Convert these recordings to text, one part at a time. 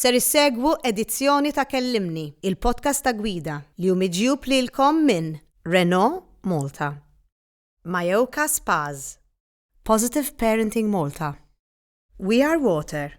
Ser issegwu edizzjoni ta' Kellimni, il-podcast ta' gwida, li hu miġjub lilkom minn Renault Malta, Mayoka Spas, Positive Parenting Malta, We Are Water,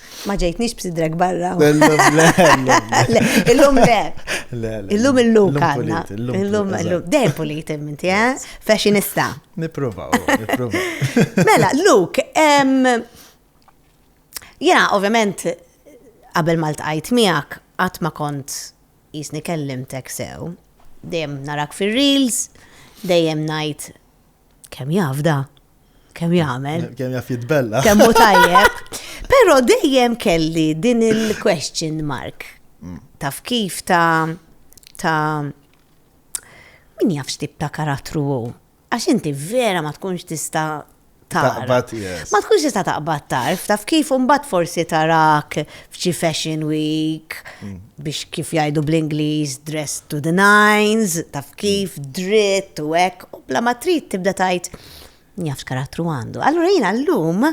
Ma ġejtnix b'sidrek barra. Illum le. Illum illum kanna. Illum illum. Dej pulit imminti, eh? Fashionista. Niprovaw, niprovaw. Mela, Luke, jena ovvjament qabel ma ltqajt miegħek qatt ma kont jisni kellimtek sew. Dejjem narak fir-reels, dejjem ngħid kemm jafda, kemm jagħmel. Kemm jaf jitbella. Kemm hu tajjeb. Però dejjem kelli din il-question mark. Mm. Taf kif ta' ta' min jaf x'tib ta' karattru hu. Għax inti vera ma tkunx tista' Taqbad, yes. Ma tkunx tista' taqbad tarf, taf kif imbagħad forsi tarak f'xi fashion week mm. biex kif jgħidu bl-Ingliż dress to the nines, taf kif dritt u hekk U bla ma trid tibda tajt, jaf x'karattru għandu. Allura jiena llum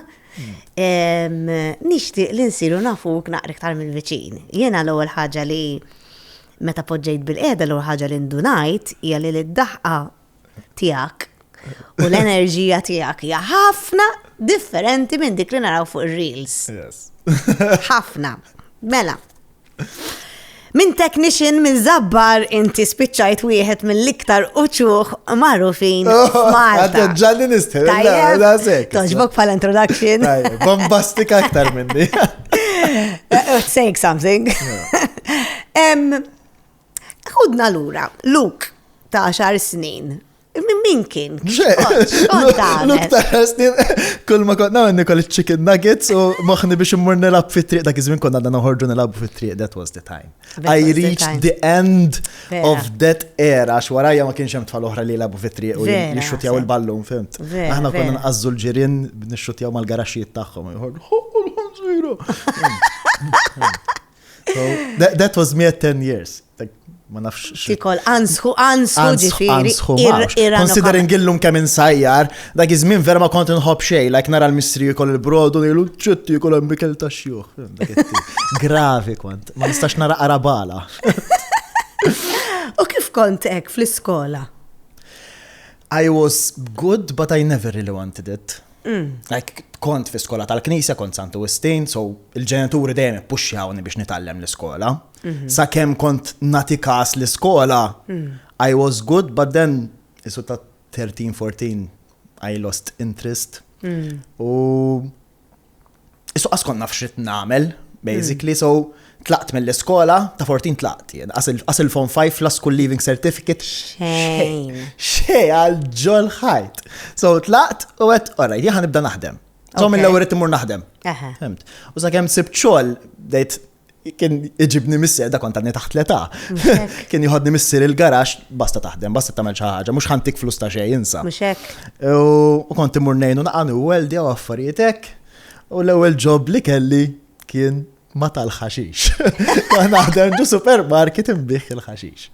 nixtieq li nsiru nafuk naqra iktar mill-viċin. Jiena l-ewwel ħaġa li meta poġġejt bil-qiegħda l-ewwel ħaġa li ndunajt hija li d-daħqa tiegħek u l-enerġija tiegħek hija ħafna differenti minn dik li naraw fuq ir-reels. Ħafna. Mela, Minn technician minn zabbar inti spiċċajt wieħed mill-iktar uċuħ magħrufin Malta. Ġalli nistħel, la sek. Toġbok pal introduction. Bombastik aktar minni. Saying something. Hudna lura, Luke ta' xar snin Min kien? L-uktarasni, kull ma konna għanni koll chicken nuggets u maħni biex immur nilab fit triq dak iż-żmien konna għadna noħorġu nilab fit triq that was the time. I reached the end of that era għax warajja ma kienx hemm tfal oħra li jilabu fit triq u jixxutjaw il-ballun, fimt. Aħna konna nqazzu l-ġirien nixxutjaw mal-garaxxijiet tagħhom. That was me at 10 years. Ma nafx. Tikol, ansħu, ansħu ġifiri. Considering illum kemm insajjar, dak iż-żmien vera ma kont nħobb xej, like nara l-mistri jkol il-brodu, nilu ċutti jkol hemm bikel ta' xjuħ. Gravi kont, ma nistax nara arabala. U kif kont hekk fl-iskola? I was good, but I never really wanted it. Mm. Like, kont fi skola tal-knisja, kont Santu Wistin, so il-ġenituri dejjem ippuxxjawni biex nitgħallem l-iskola. Mhm. Sa kemm kont nati kas l-iskola, mm. I was good, but then isu ta' 13-14 I lost interest. Mm. U Isu qas konna f'xit nagħmel, basically, so tlaqt mill-iskola, ta' 14 tlaqt, jien, qas il-fon 5 la school leaving certificate. Xejn. Xejn għal ġol ħajt. So tlaqt u għet, orra, jħan nibda naħdem. So mill-ewwel qed imur naħdem. Fimt. U sakemm sibt xogħol dejt kien iġibni missier, da kont għadni taħt l-età. Kien jħodni missier il-garax, basta taħdem, basta tamel ħaġa, mux ħantik flus ta' xej, insa. U kont imur nejnu naqan u għeldi għaw affarietek. U l-ewel ġob li kelli kien ma tal-ħaxix. Naħdem ġu supermarket imbieħ il-ħaxix.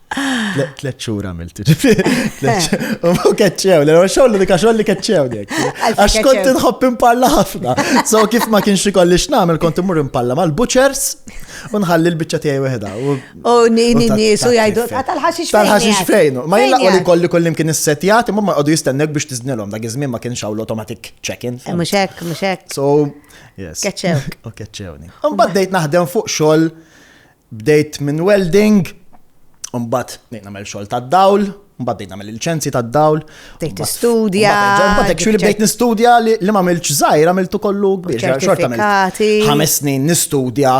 Tlet xhur għamilt. U keċċew, l-għu xogħol li xogħol li keċċew dek. Għax kont inħobb impalla ħafna. So kif ma kienx ikolli x'nagħmel kont imur impalla mal-butchers u nħalli l-biċċa tiegħi weħda. U nini nies u jgħidu ah, tal-ħaxix fejn. Tal-ħaxix fejn. Ma jillaqgħu li kolli kollim kien issetjat imma ma jqogħdu jistennek biex tiżnilhom dak iż-żmien ma kienx hawn l-automatic check-in. Eh, mhux hekk, mhux hekk. So, yes. Keċċew. U keċċewni. Imbagħad dejt naħdem fuq xogħol Bdejt minn welding, u mbagħad bdejt nagħmel xogħol tad-dawl, mbagħad bdejt nagħmel il-liċenzji tad-dawl. Bdejt tistudja. Mbagħad actually bdejt nistudja li ma għamilx żgħir, għamiltu kollu kbir. Xorta għamilt ħames snin nistudja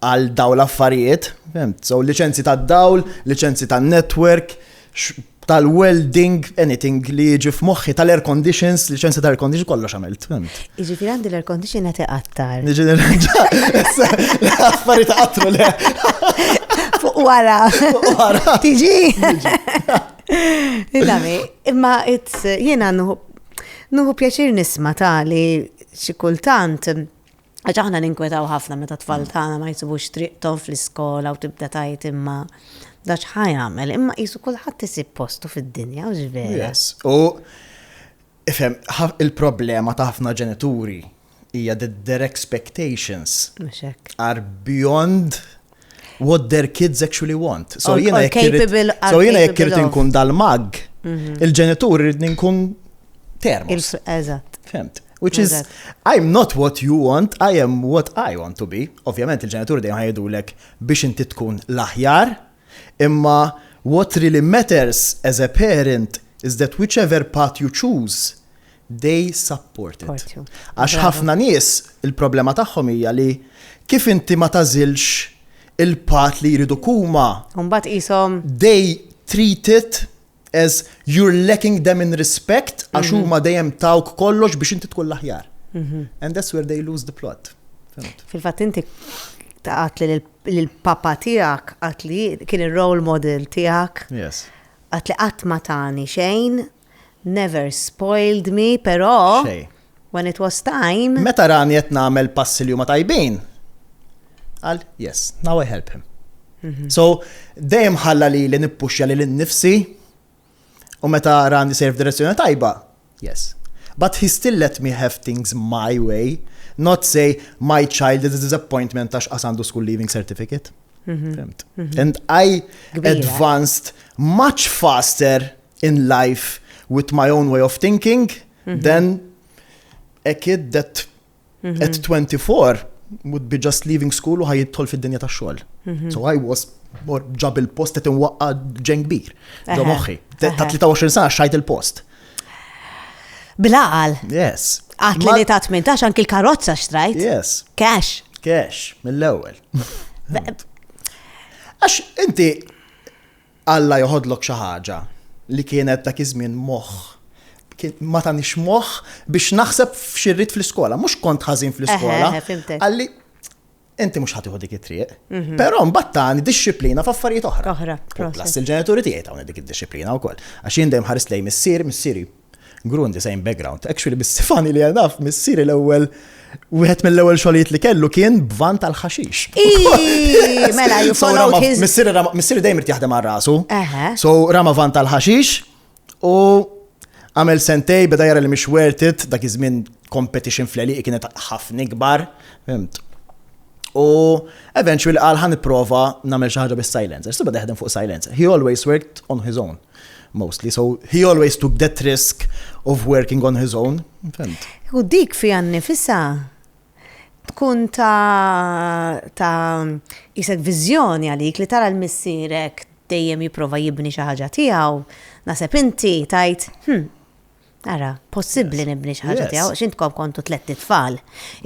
għal dawl affarijiet, so liċenzji tad-dawl, liċenzji tan-network, tal-welding, anything li jiġi f'moħħi tal-air conditions, liċenzja tal-air condition, kollox għamilt. Iġifir għandi l-air condition għati għattar. Niġi nirranġa, affari ta' għattru le. Fuq wara. Fuq wara. Tiġi. Illami, imma jena nuhu pjaċir nisma ta' li xikultant Għax aħna ninkwetaw ħafna meta t-tfal tagħna ma jsibux triqthom fl-iskola u tibda tgħid imma da x'ħa jagħmel, imma qisu kulħadd isib postu fid-dinja, hux vera? U ifhem, il-problema ta' ħafna ġenituri hija that their expectations are beyond what their kids actually want. So jiena jekk irid inkun dal-mag, mhm. il-ġenitur irid nkun termos. Eżatt. Femt. Which is, I'm not what you want, I am what I want to be. Ovvjament il-ġenitur dejjem ħajdu lek biex inti tkun l-aħjar, imma what really matters as a parent is that whichever path you choose, They support it. Għax ħafna nies il-problema tagħhom hija li kif inti ma tagħżilx il-path li jridu huma. U mbagħad qishom. They treat it as you're lacking them in respect għax mhm. huma dejjem tawk kollox biex inti tkun l-aħjar. Mhm. And that's where they lose the plot. Fil-fatt inti għat li l-papa tijak, għat li kien il-role model tijak. Yes. Għat li għat ma tani xejn, Never spoiled me, però. Xejn. When it was time. Meta rani qed nagħmel passi li huma tajbin, qal, yes, now I help him. So, dejjem ħalla lili nippuxja lil innifsi u meta rani sejr f'direzzjoni tajba, yes. But he still let me have things my way, not say my child is a disappointment għax qas għandu school leaving certificate. Fimt? And I advanced much faster in life with my own way of thinking, mhm. then a kid that mhm. at 24 would be just leaving school u ħajidħol fid-dinja ta' xogħol. Mhm. So I was more ġab il-post qed inwaqqa ġen kbir. Ġo moħħi. Ta' 23 sa xajt il-post. Bilaqal. Yes. Għat li ta' 18 anki l-karozza xtrajt. Yes. Cash. Cash, mill-ewwel. Għax inti Alla joħodlok xi ħaġa li kienet dak iż-żmien moħħ. Kien ma tanix moħħ biex naħseb f'xi rrid fl-iskola. Mhux kont ħażin fl-iskola. Qalli, inti mhux ħa tieħu dik it-triq. Mhm. Però mbagħad tani dixxiplina f'affarijiet oħra. Oħra. Plus il-ġenituri tiegħi tawni dik id-dixxiplina wkoll. Għax jien dejjem ħarist lejn missieri, missieri Grund is same background. Actually, bis-sifani li għanaf, missieri l-ewwel Wieħed mill-ewwel xogħlijiet li kellu kien bvan tal-ħaxix. Mela, you followed his. Missieri dejjem irid jaħdem għal rasu. So rama van tal-ħaxix u għamel sentej beda jara li mhix worth it, dak iż-żmien competition fl-eliq kienet ħafna ikbar. U eventually qal ħan nipprova nagħmel xi ħaġa bis-silencer. Sibda jaħdem fuq silencer. He always worked on his own. mostly, so he always took that risk of working on his own, fimt. U dik fi għannifisa tkun ta' ta' jisek vizjoni għalik li tara l-missirek dejjem jiprofa jibni xi ħaġa tiegħu, naseb inti tajt, hm, Ara, possibbli nibni xi ħaġa tiegħu, x'intkom kontu tletti tfal.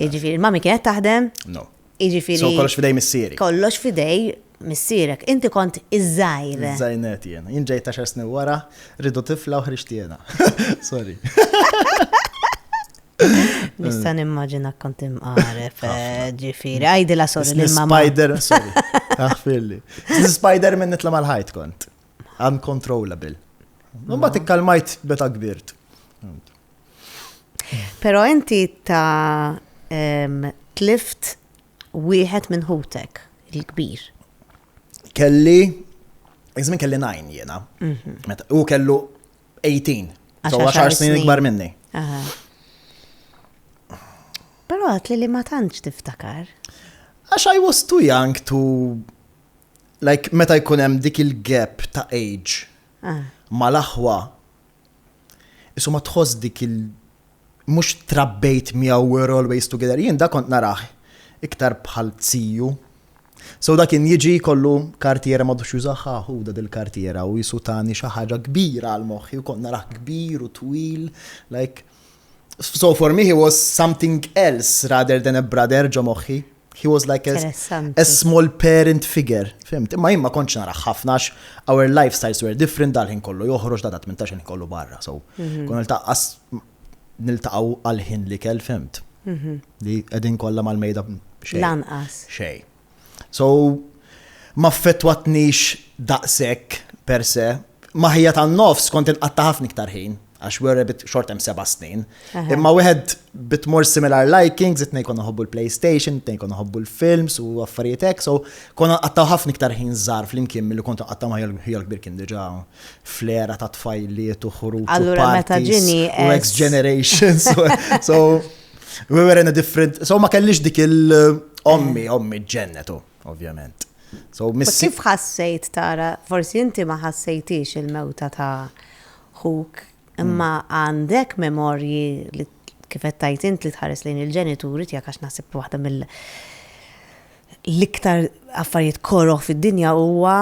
Jiġifieri mami kienet taħdem? No. Jiġifieri. So kollox fidej missieri. Kollox fidej missierek. Inti kont iż-żgħir. Żgħirnet jien. Jien ġejt ta' snin wara, rridu tifla u ħriġt jiena. Sorry. Nista' nimmaġina kont imqaref, eh, ġifieri. Għajdi la sorry lil mamma. Spider, sorry. Aħfirli. Spider minn nitla' mal-ħajt kont. uncontrollable. Mbagħad ikkalmajt beta kbirt. Però inti ta' tlift wieħed minn ħutek il-kbir. Kelli, jizmin kelli 9 jena. Mhm. U kellu 18. So 10 snin ikbar minni. Però għat li ma tantx tiftakar. Għax I was too young to like meta jkun hemm dik il-gap ta' age mal-aħwa, isu ma tħoss dik il- mhux trabbejt miegħu we were always together, jien dak kont narah iktar bħal ziju. So dak kien jiġi jkollu kartiera m'għadux jużaha hu da dil-kartiera u jisu tani xi ħaġa kbira għal moħħi u kont narah kbir u twil like So for me he was something else rather than a brother ġo moħħi. He was like a, a small parent figure. Fimt, imma jimma konċ narax ħafna our lifestyles were different dal-ħin kollu joħroġ da 18 kollu barra. So, mhm. kun niltaqqas niltaqaw għal-ħin li kell fimt. Mhm. Li edin kollha mal-mejda xej. Lanqas. Xej. So, m'affettwatnix daqshekk per se. Ma' ħija tan-nofs kont inqatta' ħafna iktar ħin, għax we were a bit short hemm seba' snin. Imma wieħed bit more similar likings, it-tnejn konna nħobbu l-PlayStation, it-tnejn konna nħobbu l-films u affarijiet hekk, so konna nqattgħu ħafna iktar ħin żgħar flimkien milli kont inqatta' ma' ħija l-kbir kien diġà fl-era ta' tfajliet u ħruġ u parties u ex generations. So, We were in a different, so ma kellix dik il-ommi, eh. ommi ġennetu, ovvjament. So miss. Kif ħassejt tara, forsi inti ma ħassejtix il-mewta ta' ħuk, imma mm. għandek memorji li kifet tajt int li tħares lejn il-ġenituri tiegħek għax naħseb waħda mill- l-iktar affarijiet koroħ fid-dinja huwa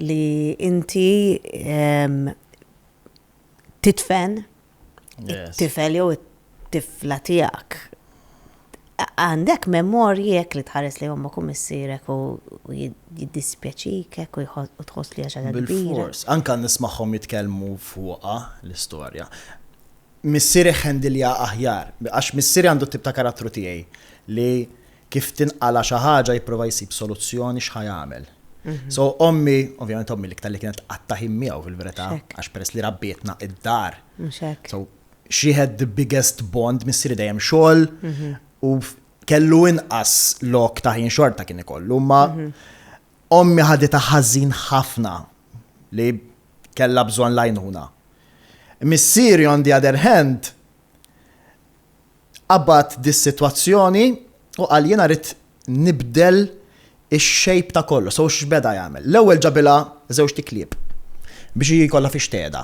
li inti titfen it-tifel jew it-tifla tiegħek. Għandek memorji jekk li tħares li ommok u missirek u jiddispjaċik hekk u tħoss li għaxa kbira. Anka nismagħhom jitkellmu fuqha l-istorja. Missiri ħendilja aħjar, għax missiri għandu tip ta' karattru tiegħi li kif tinqala' xi ħaġa jipprova jsib soluzzjoni x'ħa jagħmel. So ommi, ovvjament ommi l-iktar li kienet tqatta' ħin miegħu fil-verità, għax peress li rabbietna id-dar. So she had the biggest bond, missieri dejjem xogħol u kellu inqas lok ta' ħin xorta kien ikollu, ma ommi ħadita ħażin ħafna li kellha bżonn lajnuna. Missieri on the other hand, Qabbad dis-sitwazzjoni u qal jiena rrid nibdel ix-shape ta' kollox. So x'beda jagħmel? L-ewwel ġabilha żewġt iklieb biex hi jkollha fiex tgħedha.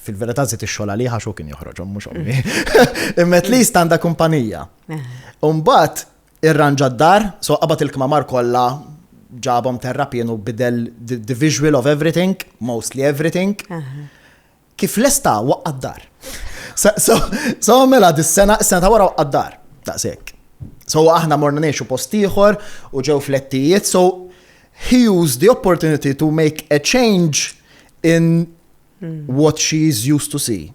Fil-verità żied ix-xogħol għalih għax hu kien joħroġhom mhux ommi. Imma at least għandha kumpanija. U mbagħad irranġa d-dar, so qabad il-kmamar kollha ġabhom terrapien u bidel the visual of everything, mostly everything. Kif lesta waqqa' d-dar. So mela dis-sena, is-sena ta' wara waqqa' d-dar. Daqshekk. So aħna morna ngħixu post ieħor u ġew flettijiet, so he used the opportunity to make a change in hmm. what she is used to see.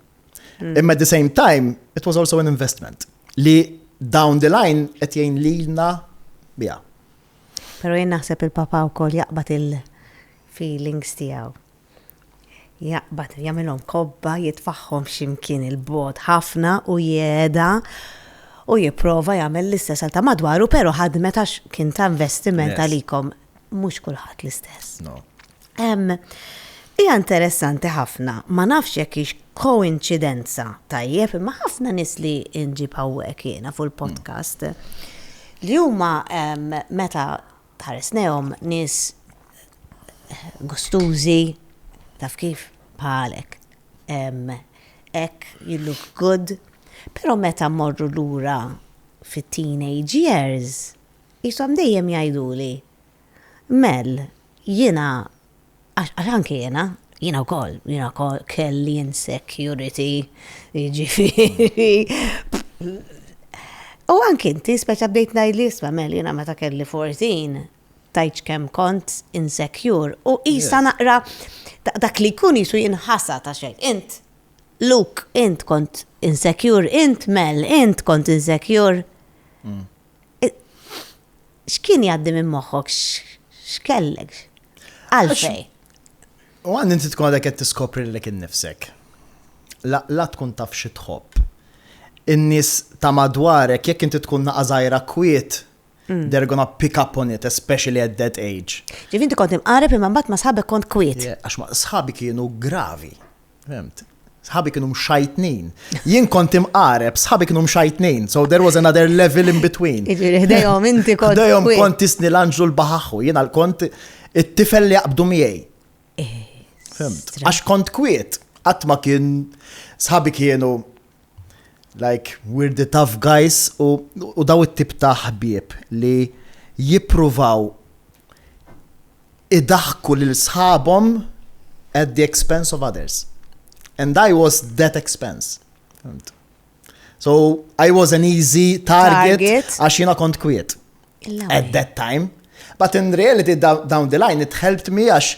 Hmm. Imma at the same time, it was also an investment li down the line qed jgħin lilna biha. Pero jien naħseb il-papa wkoll jaqbad il-feelings tiegħu. Jaqbad, jagħmilhom kobba, jitfagħhom xi mkien 'il bogħod ħafna u jegħeda u jipprova jagħmel l-istess għal ta' madwaru, però ħadmet għax kien ta' investiment għalikom. Mhux kulħadd l-istess. Hija interessanti ħafna, ma nafx jekk hix koinċidenza, tajjeb, imma ħafna nies li nġib hawnhekk jiena fuq il-podcast li huma meta Tħarisnehom nies gustużi, taf kif, bħalek. Hekk, you look good. Però meta mmorru lura fit-teenage years, qishom dejjem jgħiduli, Mel, jiena Għax għax anki jiena, jiena wkoll, jiena wkoll kelli insecurity, jiġifieri. U anki inti speċa bdejt ngħidli isma' mel jiena meta kelli 14 tajċ kemm kont insecure u isa naqra dak li jkun jisu jinħasa ta' xejn. Int, Luke, int kont insecure, int Mel, int kont insecure. Mm. X'kien jgħaddi minn moħħok? X'kellek? Għalfej? U għandi inti tkun għadek qed tiskopri lilek innifsek. La tkun taf xi tħobb. In-nies ta' madwarek jekk inti tkun naqażajra kwiet, mm. they're gonna pick up on it, especially at that age. Ġifinti kont imqareb imma mbagħad ma sħabek kont kwiet. Għax ma sħabi kienu gravi. Fhemt? Sħabi kienu mxajtnin. Jien kont imqareb, sħabi kienu mxajtnin. So there was another level in between. Iġiri, ħdejhom inti kont. Ħdejhom kont tisni l-anġlu l-baħaħu, jien kont it-tifel li jaqbdu miegħi. Eh, Fhemt? Għax kont kwiet, qatt ma kien sħabi kienu like we're the tough guys u daw it-tip ta' ħbieb li jippruvaw idaħħku lil sħabhom at the expense of others. And I was that expense. So I was an easy target għax jina kont kwiet. At that time. But in reality down the line it helped me għax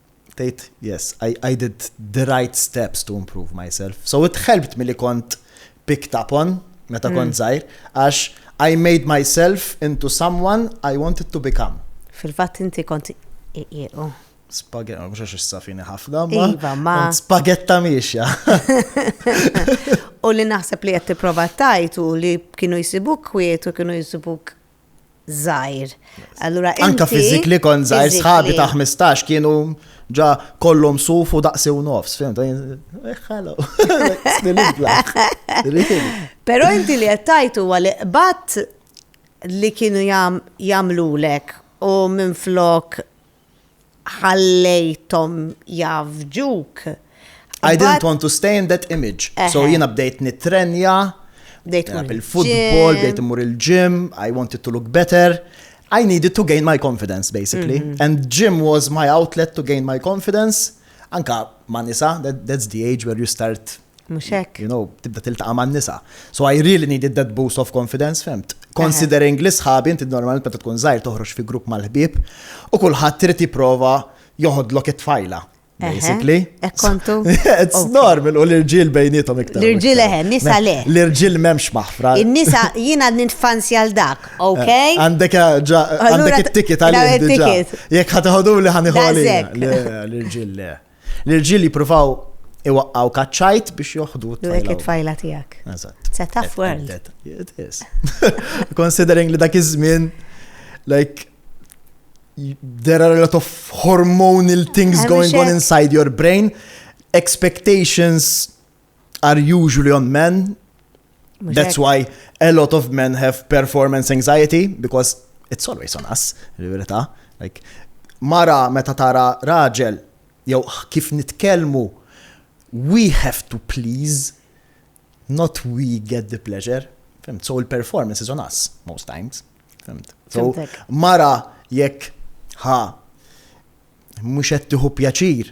tgħid, yes, I, I did the right steps to improve myself. So it helped me li kont picked up on meta mm. kont zaħir, għax I made myself into someone I wanted to become. Fil-fatt inti kont iqiequ. Spagetta, mux għax s-safini ħafna, ma. Iva, ma. Spagetta miexja. U li naħseb li għetti prova tajtu li kienu jisibuk kwiet u kienu jisibuk żgħir. Allura Anka fiżikli kont żgħir sħabi ta' 15 kienu ġa kollhom suf u daqsi u nofs, fim, ta' ħalo. Pero inti li għattajtu għal bat li kienu jamlulek u minn flok ħallejthom jafġuk. I didn't want to stay in that image. So jiena bdejt nitrenja, bdejt il-futbol, bdejt imur il-gym, I wanted to look better. I needed to gain my confidence, basically. Mm -hmm. And gym was my outlet to gain my confidence. Anka ma nisa, that, that's the age where you start Mux hekk. You know, tibda tiltaqa man nisa. So I really needed that boost of confidence, femt. Considering li sħabi, inti normalment meta tkun zaħir toħroġ fi grupp mal-ħbib, u kulħadd trid jipprova joħodlok it-tfajla. Basically. Ekkontu. It's normal u l-irġil bejnietom iktar. L-irġil eħe, nisa le. L-irġil memx maħfra. Nisa jina ninfanzi għal dak, eh, ok? Għandek ġa, għandek it-ticket għal-irġil. Jek ħataħdu li ħaniħu għal-irġil le. L-irġiel jippruvaw iwaqqgħu kaċċajt biex joħdu t-tfajla. Dik it-tfajla tiegħek. Eżatt. It's a tough world. It is. Considering li dak iż-żmien, like, there are a lot of hormonal things going on inside your brain, expectations are usually on men. That's why a lot of men have performance anxiety because it's always on us, il-verità. Like, mara meta tara raġel, jew kif nitkellmu, we have to please, not we get the pleasure. Fimt? So il-performance is on us most times. Fimt? So mara jekk ha mhux qed tieħu pjaċir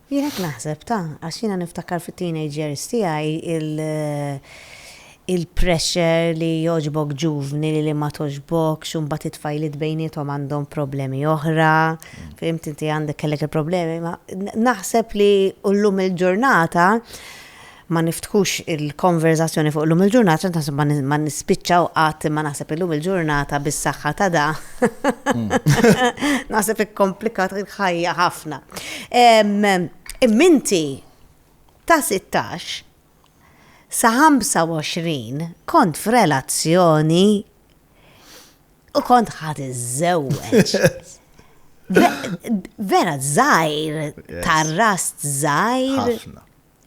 Jien hekk naħseb, ta, għax jiena niftakar fit-teenage years tiegħi il il-pressure li jogħġbok ġuvni li li ma togħġbokx u mbagħad it-tfajliet bejniethom għandhom problemi oħra, fhimt inti għandek kellek il-problemi ma naħseb li u llum il-ġurnata ma niftħux il-konverżazzjoni fuq illum il-ġurnata għax naħseb ma nispiċċaw qatt imma naħseb illum il-ġurnata bis-saħħa ta' da. Naħseb ikkomplikat il-ħajja ħafna. Imminti ta' 16 sa 25 kont f'relazzjoni u kont ħad iżżewweġ. Vera żgħir, tar-rast żgħir. Ħafna.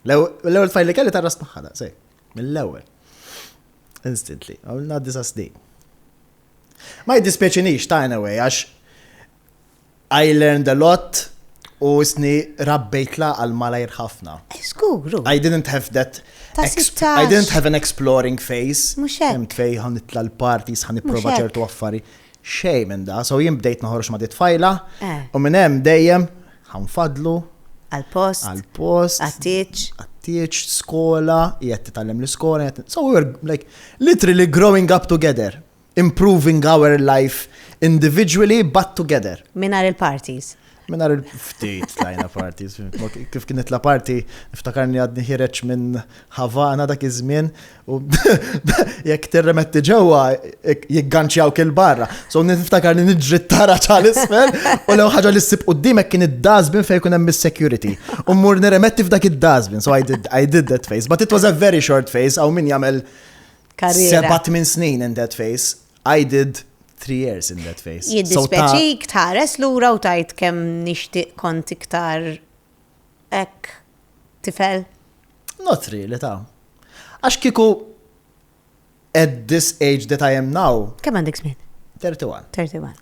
L-ewwel fajl li kelli tarra smaħħana, sej, mill-ewwel. Instantly, għamilna disa snin. Ma jiddispjaċinix ta' anyway, għax I learned a lot u isni rabbejtla għal malajr ħafna. Skuru. I didn't have that I didn't have an exploring phase. Muxek. Imt fej għan nitla l-parties, għan niprofa ċertu affari. Xej minn da, so jim bdejt naħorx ma' dit fajla, eh. u minn hemm dejjem Ħa nfaddlu. Għall-post. Għall-post. Għat-tieġ. Għat-tieġ, skola, qiegħed titgħallem l-iskola, qiegħed. So we were like literally growing up together, improving our life individually but together. Minar il-parties. Minar il-ftit tlajna parties. Kif kienet la party, niftakarni għadni ħireċ minn Havana dak iż-żmien, U jekk tirremetti ġewwa jigganċjaw kil barra. So niftakar li niġri tara ċal isfel u lew ħaġa li ssib qudiemek kien id-dazbin fejn kun hemm is-security. U mmur nirremetti f'dak id-dazbin. So I did, I did that face. But it was a very short face għaw min jagħmel sebat minn snin in that face. I did three years in that face. Jiddispeċik tħares lura u tajt kemm nixtieq kont iktar Hekk, tifel? Not really, ta. Għax kieku at this age that I am now. Kemm għandek żmien? 31. 31.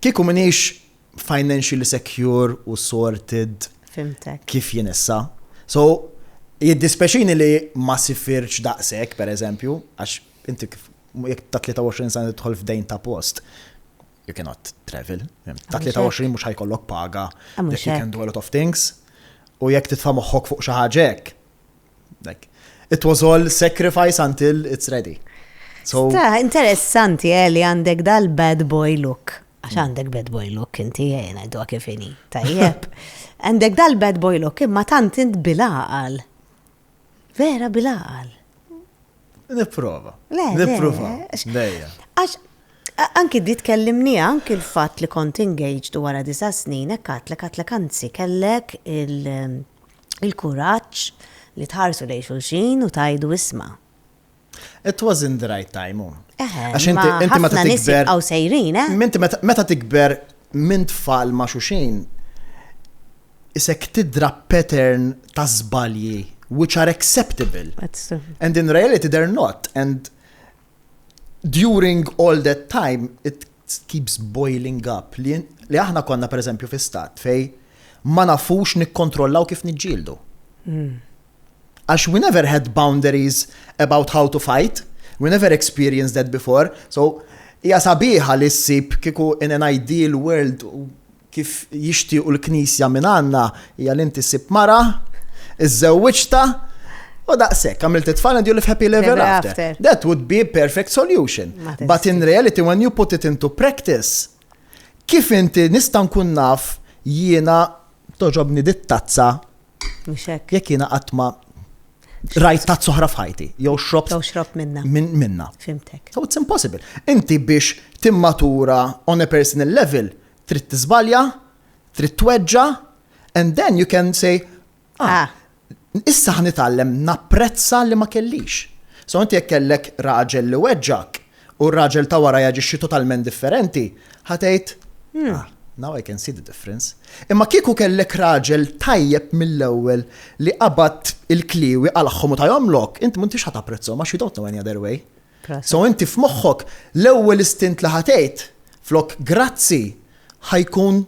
Kieku minix financially secure u sorted. Fimtek. Kif jien issa. So, jiddispeċini li ma sifirċ daqsek, per eżempju, għax inti jek ta' 23 sena tħol f'dejn ta' post. you cannot travel. Ta' 23 mhux ħajkollok paga, you can do a lot of things. U jekk titfa' moħħok fuq xi ħaġek. It was all sacrifice until it's ready. So, interessanti eh, li għandek dal-bad boy look. Għax mm. għandek bad boy look inti jena eh, għajdu kifini. Tajjeb. Għandek dal-bad boy look imma tant int bil-għaqal. Vera bil-għaqal. Nipprova. Nipprova. Dejja. Għax anki di tkellimni anki l-fatt li kont engaged wara disa' snin hekk għatlek għatlek anzi kellek il-kuraġġ li tħarsu lejn xulxin u tajdu isma'. It was in the right time, u. Għax inti meta tikber. Ħafna nis jibqaw sejrin, eh? Minti meta tikber minn tfal ma' xuxin, isek tidra pattern ta' zbalji which are acceptable. And in reality they're not. And during all that time, it keeps boiling up li li aħna konna pereżempju fi stat fejn ma nafux nikkontrollaw kif niġġieldu. Għax we never had boundaries about how to fight, we never experienced that before, so hija sabiħa li ssib kieku in an ideal world kif jixtiequ l-Knisja minn għandna hija li inti ssib mara, iżżewwiġtha, u daqshekk, għamilt it-tfal and you live happily ever Ever after. after. That would be a perfect solution. Ma But teżisti. in reality, when you put it into practice, kif inti nista' nkun naf jiena toġobni dit-tazza Mhux hekk. jekk jiena qatt ma rajt tazz oħra f'ħajti, jew xrobt Jew xrobt minna. min- minna. Fimtek. So it's impossible. Inti biex timmatura on a personal level, Trid tiżbalja, trid tweġġa, and then you can say, ah, ah. issa ħnitgħallem napprezza li ma kellix. So inti jekk kellek raġel li weġġak u r-raġel ta' wara jaġixxi totalment differenti, ħatejt, hmm. ah, now I can see the difference. Imma kieku kellek raġel tajjeb mill-ewwel li qabad il-kliwi għal-ħomu ta' jomlok, inti m'intix ħat apprezzhom għax you don't know any other way. So inti f'moħħok l-ewwel istint li ħa tgħid flok grazzi ħa jkun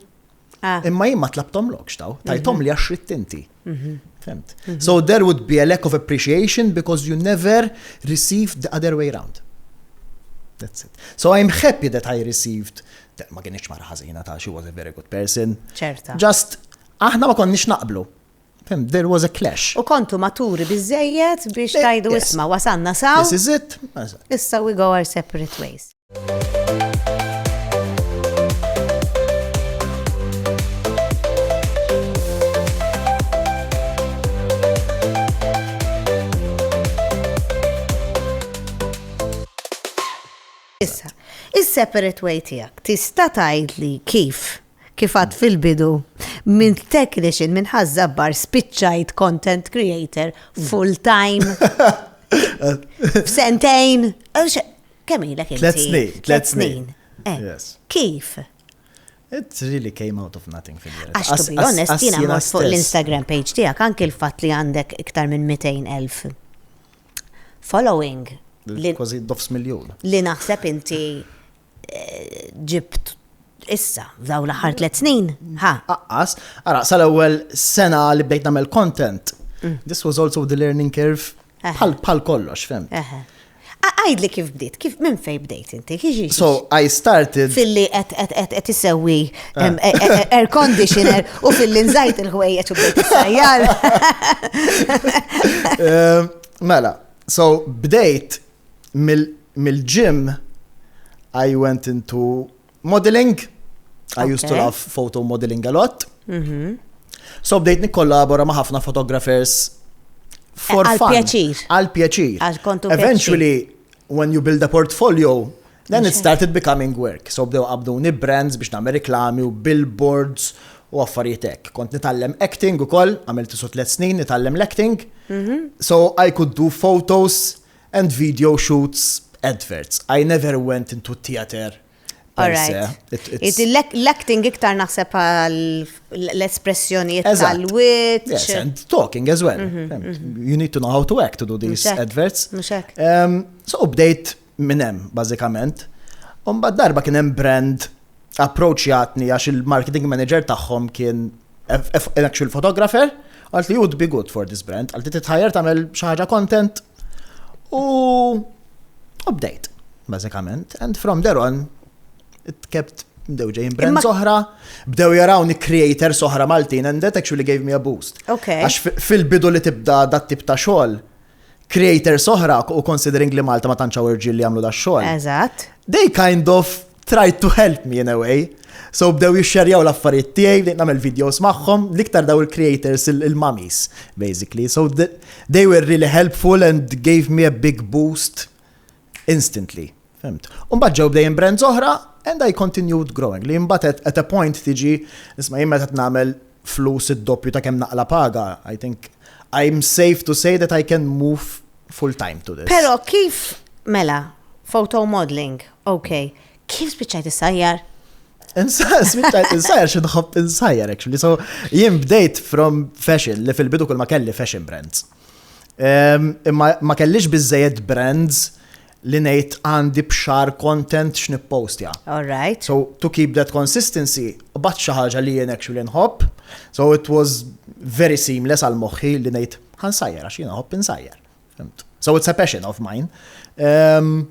imma jien ma tlabthomlokx taw, tajthomli għax ridt inti. Fimt? So there would be a lack of appreciation because you never received the other way round. That's it. So I'm happy that I received ma kienx mara ħażina ta' she was a very good person. Ċerta. Just aħna ma konniex naqblu. There was a clash. U kontu maturi bizzejiet biex eh, tajdu isma wasanna saw. This is it. Issa we go our separate ways. Issa, is-separate way tiegħek tista' tgħidli kif kif għad fil-bidu, minn technician, minn ħazzabbar, spiċċajt content creator full time. F'sentejn, kemm ilek Tlet snin, tlet snin. Eh, kif? It really came out of nothing fil Għax to be honest, jina mort fuq l-Instagram page tijak, anki l-fat li għandek iktar minn 200.000 following. Kważi dofs miljon. Li naħseb inti ġibt issa, f'daw l-aħħar tliet snin, ha. Aqqas, ara, sal-ewwel sena li bdejt nagħmel content, mm. this was also the learning curve bħal kollox, fem. Għajd li kif bdiet, kif minn fej bdejt inti, kħiġi. So, I started. Filli għet issewi ah. e- e- e- air conditioner u filli nżajt il-ħwejjeċ u bdejt sajjar. Mela, so bdejt mill-gym I went into modeling. I used to love photo modeling a lot. Mhm. So bdejt nikkollabora ma' ħafna photographers for eh, fun. Għal-pjaċir. Għal-pjaċir. Eventually, when you build a portfolio, then it started becoming work. So bdew qabduni brands biex nagħmel reklami u billboards u affarijiet hekk. Kont nitgħallem acting ukoll, għamilt isu tliet snin nitgħallem l-acting. Mhm. So I could do photos And video shoots, adverts. I never went into a theater per se. L-acting iktar naħseb l-espressjonijiet tal-wit. Yes, and talking as well. Mhm, mhm. You need to know how to act to do these adverts. So bdejt minnem, bazzikament. Umba darba kienem brand approachjatni għax il-marketing manager tagħhom kien an actual photographer, għalt li you'd be good for this brand, għalt li titħajer tagħmel xi ħaġa content u update, bażikament. And from there on, it kept bdew ġejn brands oħra, bdew jarawni creators oħra Maltin and that actually gave me a boost. Għax fil-bidu li tibda dat tip ta' xogħol, creators oħra u considering li Malta ma tantx hawn irġiel li jagħmlu dax-xogħol. Eżatt. They kind of tried to help me in a way. So bdew jixxerjaw l-affarijiet tiegħi, bdejt nagħmel videos magħhom, l-iktar daw il-creators il-mummies, basically. So they were really helpful and gave me a big boost instantly, fhimt. U mbagħad ġew bdejjin brands oħra and I continued growing li mbagħad at a point tiġi isma' jien meta qed nagħmel flus id-doppju ta' kemm naqla' paga, I think I am safe to say that I can move full time to this. Però kif mela photo modeling, okay, kif spiċċajt issajjar? Spiċċajt insajjar xi nħobb insajjar actually. So jien bdejt from fashion li fil-bidu kull ma kelli fashion brands. Imma ma kellix biżejjed brands li ngħid għandi bxar content x'nippostja. All right. So to keep that consistency, bat xi ħaġa li jien actually nħobb. So it was very seamless għal moħħi li ngħid ħansajjar għax jien nħobb insajjar. So it's a passion of mine. Um,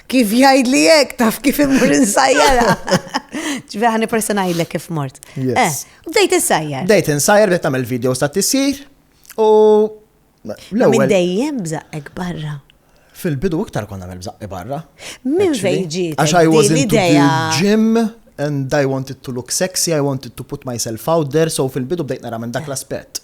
Kif jgħid li jek, taf kif imur insajjara. Ġvi ħani persona jgħidlek kif mort. Yes. Eh, bdejt insajjar. Bdejt insajjar, bdejt tagħmel video sa tisir u. Minn dejjem bżaqek barra. Fil-bidu iktar konna għamil bżaqi barra. Minn fejġi. Għax I was into the gym and I wanted to look sexy, I wanted to put myself out there, so fil-bidu bdejt nara minn dak l-aspett.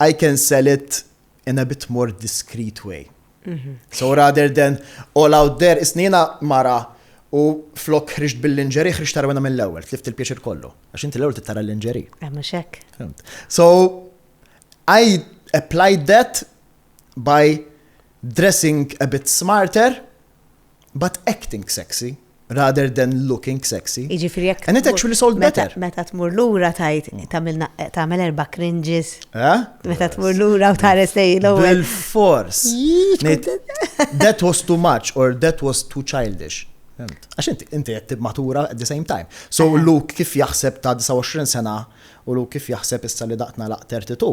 I can sell it in a bit more discreet way. So rather than all out there, isnina mara u flok ħriġt bil-linġeri, ħriġt tarwena mill-ewel, tlift il-pjaċir kollu. Għax inti l-ewel tittara l-linġeri. Għamma xek. So, I applied that by dressing a bit smarter but acting sexy rather than looking sexy Jiġifieri jekk and it tmur- actually sold meta- better. Meta tmur lura tgħid tagħmilna tagħmel erba' cringes. Eh? Meta tmur lura u tħares lejn l-ewwel. Bil-fors. Jii, tkun Ngħid, tent- That was too much or that was too childish. Fimt? Għax inti inti qed tibmatura at the same time. So Luke kif jaħseb ta' 29 sena u Luke kif jaħseb issa li daqtna laq 32.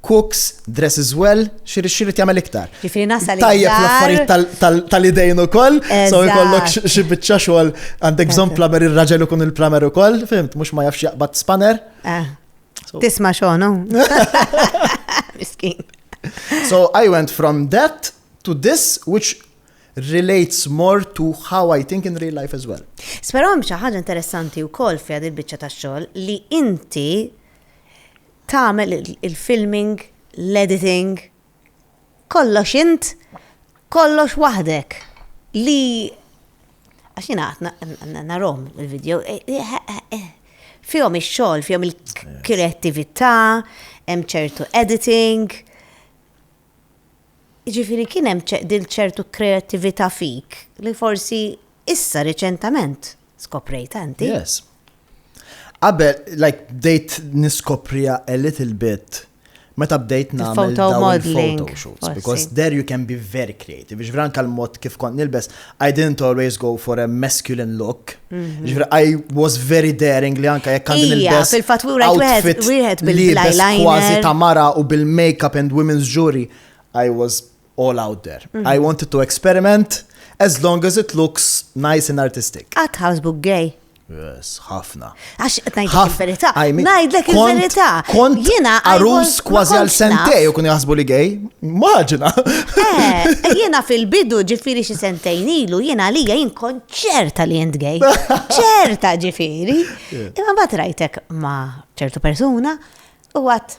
cooks, dresses well, xirrit xirrit jagħmel iktar. Ġifieri nasal Tajjeb l-affarijiet tal-idejn ukoll, so jkollok xi biċċa xogħol għandek bżonn plamer ir-raġel ikun il-plamer ukoll, fimt, mhux ma jafx jaqbad spanner. Eh. Tisma' xogħol, Miskin. So I went from that to this which relates more to how I think in real life as well. Sperom xi ħaġa interessanti wkoll fi il-biċċa tax-xogħol li inti Tagħmel il-filming, l-editing, kollox int, kollox waħdek. Li għax jiena qatt narhom il-video, e, e, e, fihom ix-xogħol, fihom il-kreattività, hemm ċertu editing. Jiġifieri kien hemm din ċertu kreattività fik li forsi issa riċentament skoprejtha inti. Yes. Qabel, like, bdejt niskopriha a little bit meta bdejt nagħmel dawn il-photo shoots. Because there you can be very creative. Ġvran kal-mod kif kont nilbes, I didn't always go for a masculine look. Mhm. Ġifri, I was very daring li anka jekk għandin il-best. fil-fatura wieħed wieħed bil-eyeliner. Kważi ta' mara u bil-makeup and women's jewelry. I was all out there. Mhm. I wanted to experiment as long as it looks nice and artistic. At housebook gay. Yes, ħafna. Għax, najdlek il-verita. Najdlek il-verita. Kont jena għarus kważi għal sentej u kun jaħsbu li gej. Maġna. Eh, eh, jena fil-bidu ġifiri xi sentejn ilu, jena li jien kont ċerta li jent gej. ċerta ġifiri. Imma bat rajtek ma ċertu persuna u għat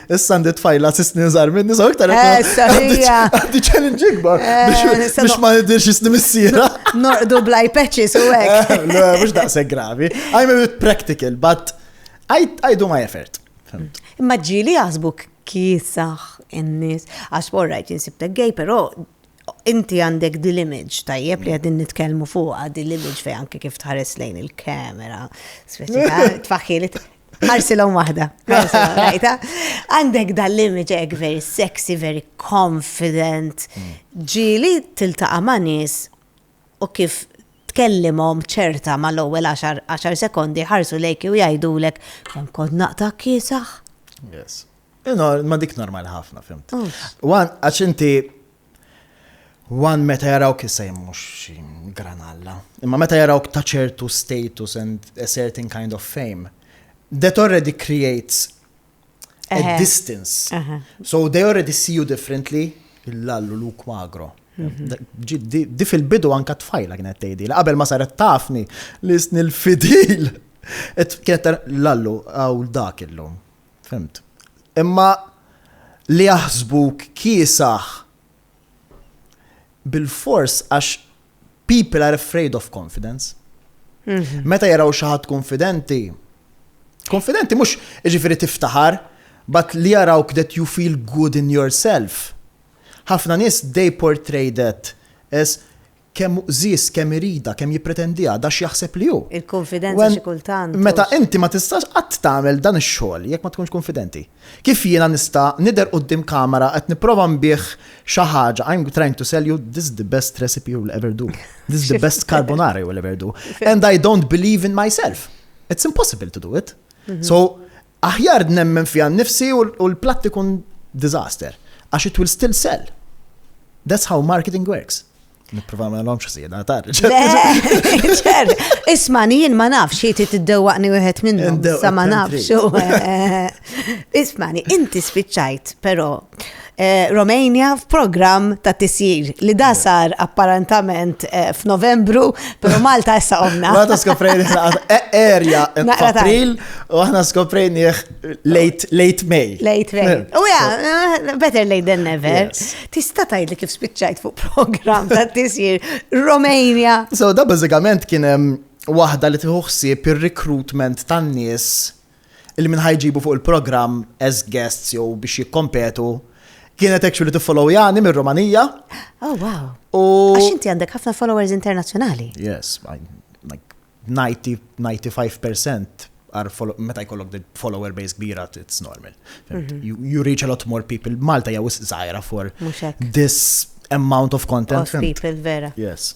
Issa għandi tfajla s-snin zar minni, so iktar għandi challenge ikbar biex ma nidirx s-snin missira. Nordu blaj patches u għek. Le, mux daqse gravi. I'm a bit practical, but I, I do my effort. Imma ġili għazbuk kisax in-nis. Għax borrajt jinsibtek gej, pero inti għandek dil-image tajjeb li għadin nitkelmu fuqa dil-image fej anke kif tħares lejn il-kamera. Tfaħħili Ħarsilhom waħda. Għandek dan l-image hekk very sexy, very confident. Mm. Ġili tiltaqa' ma' nies u kif tkellimhom ċerta ma l-ewwel 10 sekondi ħarsu lejk u jgħidulek kemm kont naqta' kiesaħ. Yes. Ma dik normal ħafna, fimt. Wan, għax inti One meta jarawk issa jien mhux xi granalla, imma meta jarawk ta' ċertu status and a certain kind of fame, that already creates a Eħe. distance. Eħe. So they already see you differently, il-lallu Luke Magro. Ġi- Di di fil-bidu anka tfajla kienet tgħidi, li qabel ma saret tafni li sni l-fidil. Et- Kienet tar- lallu għaw dak illum. Fimt. Imma li jaħsbuk kiesaħ bil-fors għax people are afraid of confidence. Mhm. Meta jaraw xi ħadd konfidenti, konfidenti mhux ġifieri tiftaħar, but li jarawk that you feel good in yourself. Ħafna nies they portray that as Kemm hu qżież, kemm iridha, kemm jippretendiha, da x'jaħseb li hu. Il-kunfidenza xi kultant. Meta inti ma tistax qatt tagħmel dan ix-xogħol jekk ma tkunx kunfidenti. Kif jiena nista' nidher quddiem kamera qed nipprova nbigħ xi ħaġa, I'm trying to sell you this the best recipe you will ever do, this the best carbonara you will ever do, and I don't believe in myself. It's impossible to do it. So, Aħjar nemmen fiha nnifsi u l-platt ikun disaster, għax it will still sell. That's how marketing works. Nipprova ma nagħmlhomx ħsieda tar. Ċer, isma' jien ma nafx xi trid iddewwaqni wieħed minnhom, sa ma nafx. Ismani, inti spiċċajt però Eh, Romania f'programm ta' tisjir li da sar apparentament eh, f'Novembru, pero Malta issa omna. Malta skoprejni e- erja f'April u aħna skoprejni late late May. Late May. Eh, u ja, better late than never. Tista' tgħid li kif spiċċajt fuq programm ta' tisjir Romania. So da bażikament kien hemm waħda li tieħu ħsieb ir-recruitment tan-nies Illi min ħa jġibu fuq il-programm as guests jew biex jikkompetu kienet actually tiffollowjani mir-Rumanija. Oh wow. U Għax inti għandek ħafna followers internazzjonali. Yes, like 90-95% meta jkollok the follower base kbira, it's normal. Mhm. you, you reach a lot more people. Malta jaw zaħira for this amount of content. Of people, vera. Yes.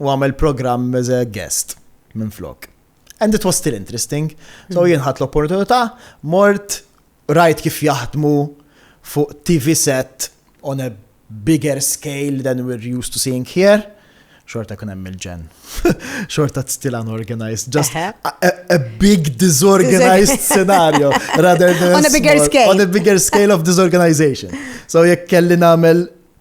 u għamel programm as a guest minn flok. And it was still interesting. So jien ħadd l-opportunità, mort rajt kif jaħdmu fuq TV set on a bigger scale than we're used to seeing here. Xorta kun hemm il-ġen. Xorta still unorganized. Just a, a big disorganized scenario rather than on a bigger small, scale. On a bigger scale of disorganization. So jekk kelli nagħmel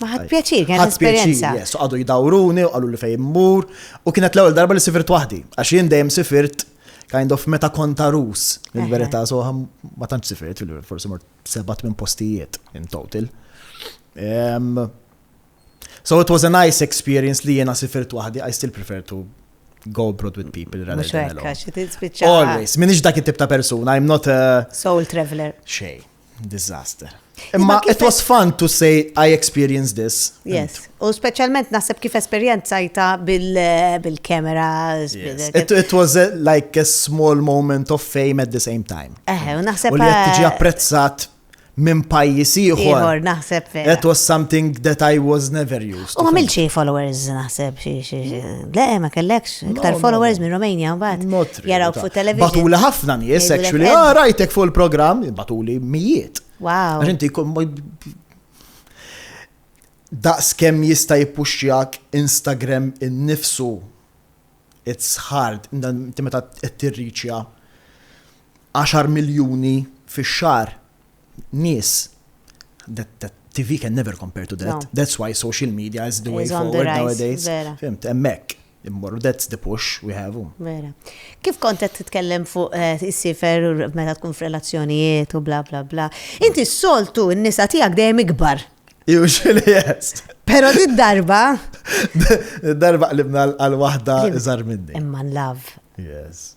Ma ħadd pjaċir, kienet esperjenza. Yes, għadu jidawruni, għallu li fejn mur, u kienet l-ewwel darba li sifirt waħdi, għax jien dejjem sifirt kind of meta konta rus, minn verità, so ma tantx sifirt, forsi mort sebat minn postijiet in total. Um, so it was a nice experience li jena sifirt waħdi, I still prefer to go abroad with people rather than alone. Always, minix dak it-tip ta' persuna, I'm not a... Soul traveler. Xej. Disaster. Imma it was fun to say I experienced this. Yes. U specialment naħseb kif esperjenzajta bil-kamera. It was a, like a small moment of fame at the same time. Eh, u naħseb. U li qed tiġi eh, apprezzat minn pajjiż ieħor. Ieħor naħseb vera. That was something that I was never used. U għamil xi followers naħseb xi xi. Le, ma kellekx iktar followers minn Romania mbagħad. Not Jaraw fuq television. Batuli ħafna nies, actually, ah, rajtek fuq il-programm, batuli mijiet. Wow. Għax inti daqs kem jista' jippuxxjak Instagram innifsu it's hard, inti meta tirriċja 10 miljuni fix-xar nies that, that TV can never compare to that. No. That's why social media is the way is forward nowadays. Fimt, emmek. Immorru, that's the push we have. Um. Vera. Kif kontet titkellem fuq eh, is-sifer u meta tkun f'relazzjonijiet u bla bla bla. Inti s-soltu n-nisa tiegħek dejjem ikbar. Usually yes. Pero di darba. darba qlibna għal wahda iżar minni. Imman love. Yes.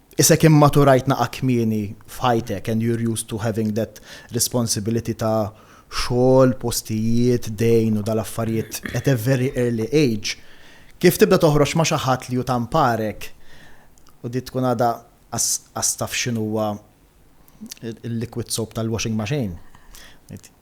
Isek immaturajt naqa' kmieni f'ħajtek and you're used to having that responsibility ta' xogħol, postijiet, dejn u dal-affarijiet at a very early age, kif tibda toħroġ ma' xi ħadd li hu ta' mparek u di tkun għadha qas taf x'inhuwa l-liquid soap tal-washing machine.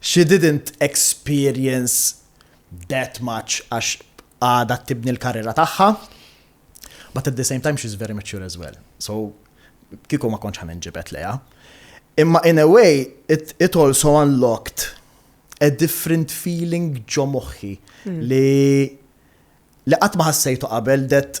She didn't experience that much għax għadha tibni l-karriera tagħha, but at the same time she's very mature as well. So kieku ma kontx ħanin ġibet leja. Imma in a way, it, it also unlocked a different feeling ġo moħħi hmm. li li qatt ma ħassejtu qabel that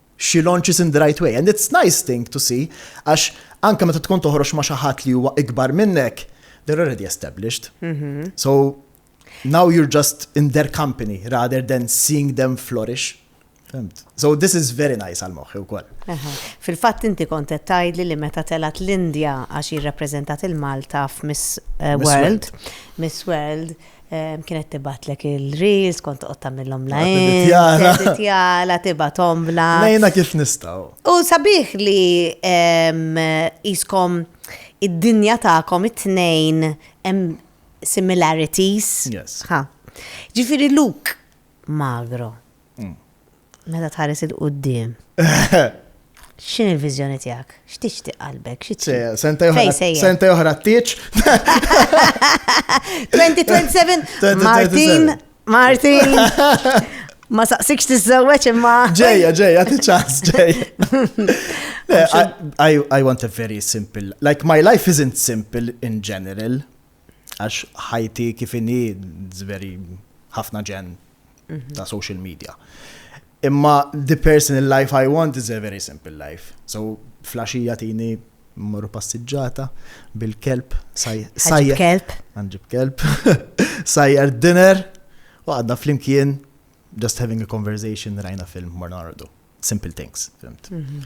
xi launches in the right way and it's nice thing to see għax anke meta tkun toħroġ ma' xi ħadd li huwa ikbar minnek, they're already established. So now you're just in their company rather than seeing them flourish. Fimt. So this is very nice għal moħħi wkoll. Aha. Fil-fatt inti kont qed tgħidli li meta telgħet l-Indja għax jirrappreżentat il-Malta f'Miss eh, Miss World, Miss World, Kienet tibatlek il-reels, kont toqgħod tagħmilhom lajn. Jara. Jara tibat ombla. Lejna kif nistgħu. U sabiħ li jiskom id-dinja tagħkom it-tnejn hemm similarities. Yes. Ġifieri Luke magro. Mm. Meta tħares 'il quddiem, x'inhi l-viżjoni tiegħek? X'tixtieq qalbek? Xi trid? Se- Sentej Fejn oħra, sejjer? sentej oħra t-tieġ. 2027 2027. Martin, Martin. Ma saqsikx tiżżewweġ imma. Ġejja, ġejja, ti ċans, ġejja. Le, I, I- I want a very simple, like my life isn't simple in general, għax ħajti kif inhi it's very ħafna ġen mhm. ta' social media. Imma the personal life I want is a very simple life. So flasġija tini mmorru passiġġata bil-kelb sajjar. kelb. Għanġib kelb. Sajjar dinner u għadna flimkien just having a conversation rajna film morna għardu. Simple things, fimt. Mhm.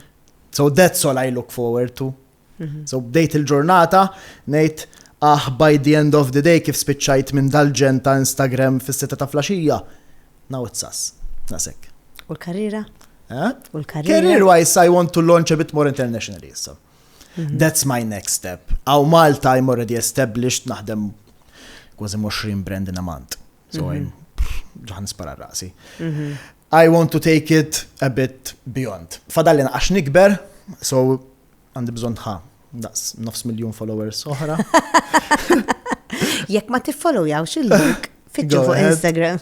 So that's all I look forward to Mhm. So bdejt il-ġurnata, nejt, ah, by the end of the day kif spiċċajt minn dal-ġen ta' Instagram fis-sitta ta' flaxija. Now it's us. Nasek. U l-karriera? Eh? U l-karriera? Career wise, I want to launch a bit more internationally issa. Mhm. That's my next step. Aw Malta I'm already established naħdem kważi 20 brand in a month. So mhm. I'm ġaħan spara rasi. I want to take it a bit beyond. Fadallin għax nikber, so Għandi bżonn ħa daqs nofs miljun followers oħra. Jekk ma tiffollowjawx il-link fitxu fuq Instagram.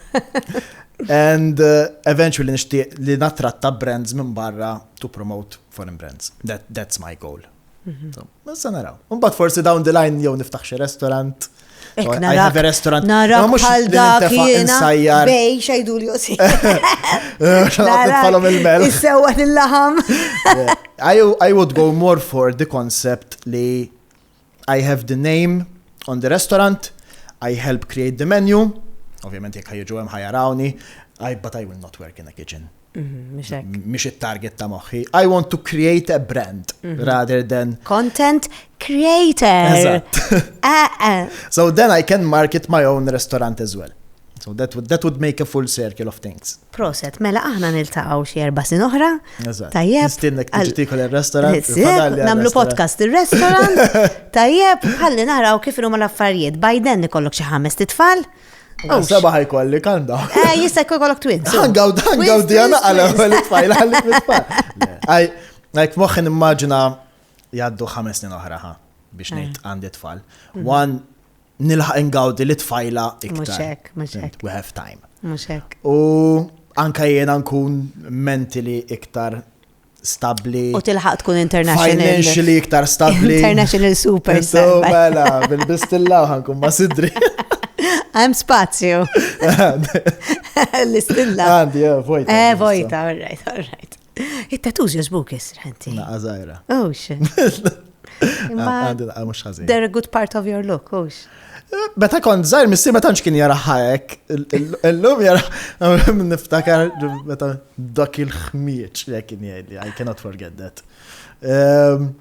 And uh, eventually nixtieq li natratta brands minn barra to promote foreign brands. That, that's my goal. Mhm. Issa naraw. Mbagħad forsi down the line jew niftaħ xi restaurant. Għajħab restaurant. Nara bħal dak jena. Bej, xajdu li josi. Nara il-mel. Issewa l-laħam. I would go more for the concept li I have the name on the restaurant, I help create the menu, ovvjament jekk ħajġu hemm ħajarawni, I but I will not work in a kitchen. Mhm, mhix it-target ta' moħħi. I want to create a brand mhm. rather than content creator. Eh, eh. So then I can market my own restaurant as well. So that would, that would make a full circle of things. Proset, mela aħna niltaqgħu xi erba' sin oħra. Tajjeb. Nistinnek tiġtikol ir-restaurant. Namlu podcast ir-restaurant. Tajjeb, ħalli naraw kif huma l-affarijiet. Biden ikollok xi ħames titfal. Għaw sabaħ jkolli, calm down. Eh, jista jkun kollok twins. Għangaw, għangaw di għana għala għalli tfajla għalli tfajla. Għaj, għajk moħin immaġina jaddu ħames snin oħra ħa biex eh. nejt għandi tfal. Mhm. One, nilħaq ingawdi li tfajla iktar. Muxek, muxek. We have time. Muxek. U anka jena nkun mentili iktar stabli. U tilħaq tkun international. Financially iktar stabli. International super. So, mela, bil-bistilla ħankun ma sidri. Għem spazju. L-istilla. Għandi, eh, vojta. Eh, vojta, all right, all right. It-tattoos jazbuk jisrħanti. Naqqa zaħira. Oh, shit. Għandi daqqa mux ħazin. They're a good part of your look, ux. Beta kon zaħir, missi ma tanċ kien jara ħajek. Illum jara, niftakar beta dak il-ħmieċ li kien jgħidli, I cannot forget that. Ehm,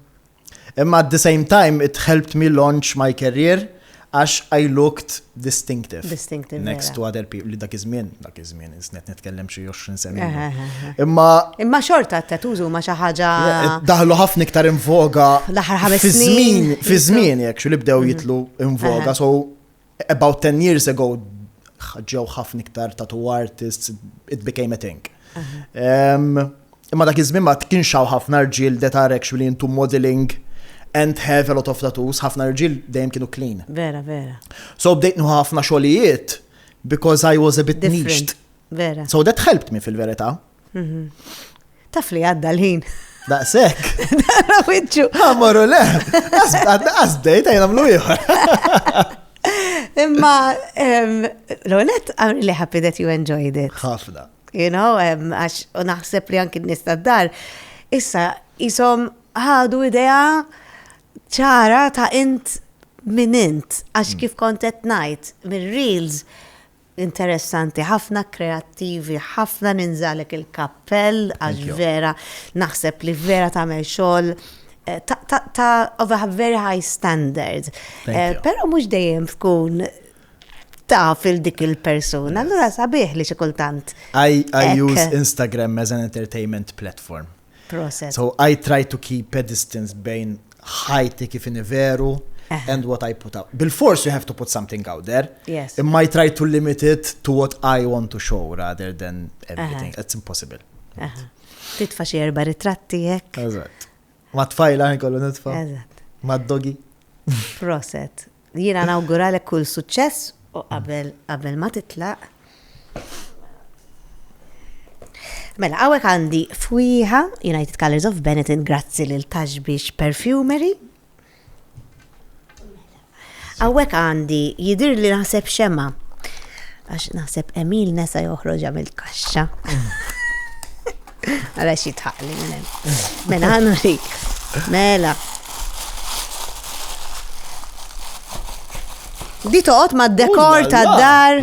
imma at the same time, it helped me launch my career. Għax I looked distinctive. Distinctive, vera. Next to other people, li dak iż-żmien, dak iż-żmien, insnet nitkellem xi 20 sena. Eh, ilu. eh, eh, eh. Imma Imma xorta t-tattoos huma xi ħaġa daħlu ħafna iktar in voga L-aħħar ħames fi snin. żmien, fi Jitlu. żmien jekk xi li bdew jitlu in voga, Aha. so about 10 years ago ħ- ġew ħafna iktar tattoo artists, it became a thing. Em, Imma dak iż-żmien ma kienx hawn ħafna rġiel that are actually into modelling and have a lot of tattoos, ħafna rġiel dejjem kienu clean. Vera, vera. So bdejt nieħu ħafna xogħlijiet because I was a bit Different. niched. Vera. So that helped me fil-verità. Taf li għadda l-ħin. Daqshekk. Dara wiċċu. Għamorru le, għasbdejt għajn għamlu ieħor. Imma, em, Lonet, I'm really happy that you enjoyed it. Ħafna. You know, għax u naħseb li anki n-nies tad-dar issa jisom ħadu idea ċara ta' int minn int, għax mm. kif kont qed ngħid mir-reels interessanti, ħafna kreattivi, ħafna ninżalek il-kappell, għax vera, naħseb li vera tagħmel xogħol eh, ta' of a very high standard. Eh, Pero mux dejjem tkun taf il dik il-persuna, allura sabiħ li xi kultant. I, I use Instagram as an entertainment platform. Process. So I try to keep a distance bejn ħajti kif veru and what I put out. Bil-force you have to put something out there. Yes. Imma I try to limit it to what I want to show rather than everything. It's impossible. Titfa xie erba ritratti jek. Eżat. Ma tfajla kollu nitfa. Eżat. Ma dogi. Proset. Jiena nawguralek kull suċċess u qabel qabel ma titlaq. Mela, għawek għandi fwiħa United Colors of Benetton grazzi lil Taxbix Perfumery Għawek għandi jidir li naħseb xema. Għax naħseb Emil nesa joħroġa mill-kaxxa. Għala xitħaq li minn Mela għanna rik. Mela. Di toqgħod ma' dekor ta' dar.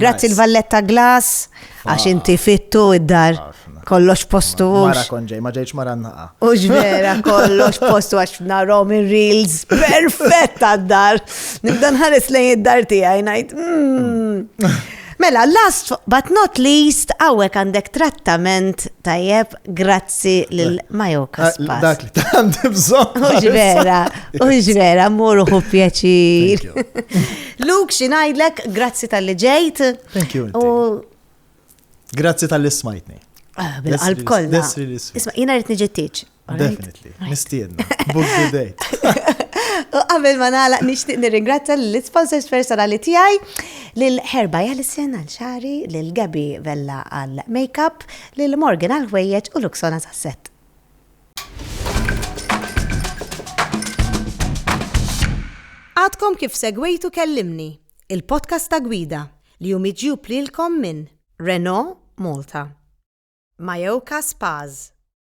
Grazzi l-valletta glass għax inti fittu id-dar. Kollox postu. Mara konġej, ma ġejċ mara naqa. Ux vera, kollox postu għax narom il-reels. Perfetta d-dar. Nibdan ħares lejn id-dar tijaj, najt. Mm. Mela, last but not least, għawek għandek trattament tajjeb grazzi l-Majoka eh, Spas. Dak li għandi bżon. Uġvera, uġvera, muru hu pjaċir. Luke, xinajdlek, grazzi tal-li ġejt. Thank you. Grazzi tal-li smajtni. Ah, bil-qalb kollha. Isma' jiena rrid niġi Definitely, nistiedna. Book the date. U qabel ma nagħlaq nixtieq nirringrazzja l-sponsors personali tiegħi lil Herba Jalisen għal xari, lil Gabi Vella għal makeup, lil Morgan għal ħwejjeġ u Luxona sasset. Għadkom kif segwejtu kellimni, il-podcast ta' gwida li jum iġjub lilkom minn Renault Malta, Majoka Spaz,